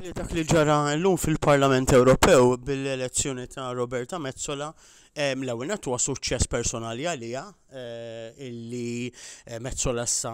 li dak li ġara llum fil-Parlament Ewropew bil-elezzjoni ta' Roberta Mezzola l-ewwel nett huwa suċċess personali għalija eh, illi eh, Mezzola sa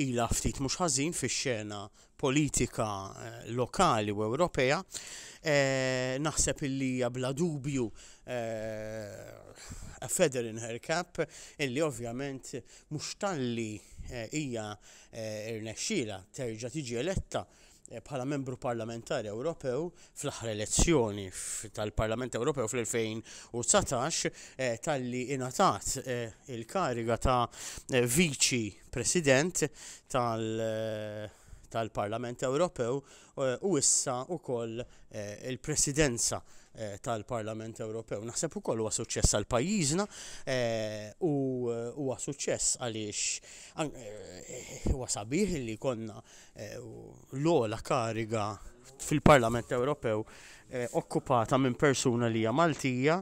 ila ftit mhux ħażin fix-xena politika lokali u Ewropea, naħseb illi hija bla dubju a feather in her cap illi ovvjament mhux talli hija rnexxielha terġa' tiġi eletta bħala Membru Parlamentari Ewropew fl-aħħar elezzjoni tal-Parlament Ewropew fl-2019 talli ingħatat il-kariga ta' Viċi President tal tal-Parlament Ewropew eh, u issa wkoll eh, il-Presidenza eh, tal-Parlament Ewropew. Naħseb ukoll huwa suċċess għal pajjiżna u huwa suċċess għaliex huwa sabiħ li konna l-ola kariga fil-Parlament Ewropew Eh, okkupata minn persuna li hija Maltija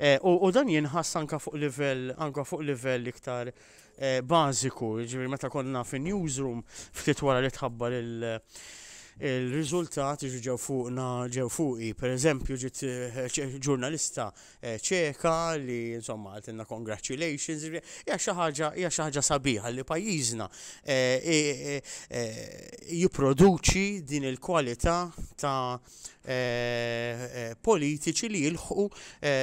eh, u dan jinħass anka fuq livell anka fuq livell iktar bażiku, jiġifieri meta konna fin-newsroom ftit wara li tħabbar il- il-riżultat jiġu ġew fuqna ġew fuqi. Pereżempju ġiet ġurnalista ċeka li insomma għaltilna congratulations, hija xi ħaġa hija xi ħaġa sabiħa li pajjiżna jipproduċi din il-kwalità ta' politiċi li jilħqu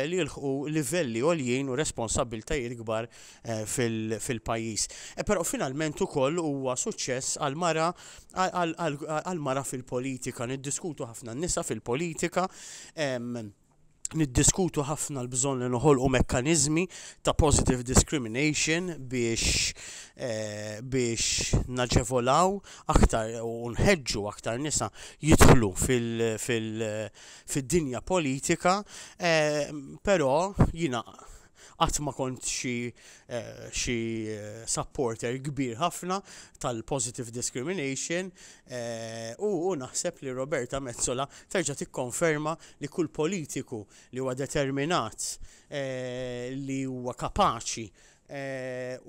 li jilħqu livelli għoljin u responsabbiltajiet kbar fil-pajjiż. Però finalment ukoll huwa suċċess għal mara għal mara fil-politika, niddiskutu ħafna n-nisa fil-politika, niddiskutu ħafna l-bżonn li noħolqu mekkaniżmi ta' positive discrimination biex eh, biex naġevolaw aktar u nħeġġu aktar nisa jidħlu fil-dinja politika, eh, però jina Qatt ma kont xi xi supporter kbir ħafna tal-positive discrimination u u naħseb li Roberta Metsola terġa' tikkonferma li kull politiku li huwa determinat li huwa kapaċi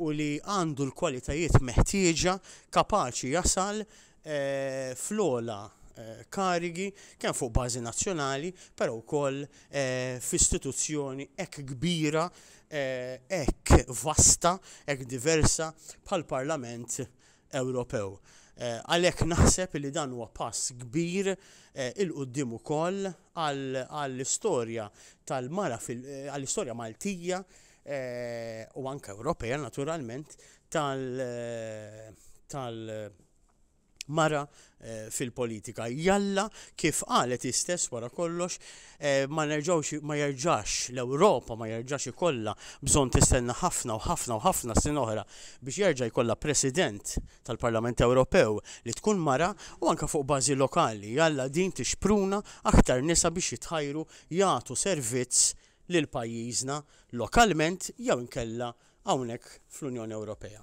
u li għandu l-kwalitajiet meħtieġa kapaċi jasal fl-ogħla karigi kemm fuq bażi nazzjonali, però wkoll f'istituzzjoni hekk kbira, hekk vasta, hekk diversa bħall-Parlament Ewropew. Għalhekk naħseb li dan huwa pass kbir 'il quddiem ukoll għall-istorja tal-mara fil-, għall-istorja Maltija u anke Ewropea naturalment tal-, tal-, mara eh, fil-politika. Jalla kif qalet istess wara kollox eh, ma nerġawx ma jerġax l-Ewropa ma jerġax ikollha bżonn tistenna ħafna u ħafna u ħafna sin oħra biex jerġa' jkollha President tal-Parlament Ewropew li tkun mara u anke fuq bażi lokali. Jalla din tixpruna aktar nisa biex jitħajru jagħtu servizz lil pajjiżna lokalment jew inkella hawnhekk fl-Unjoni Ewropea.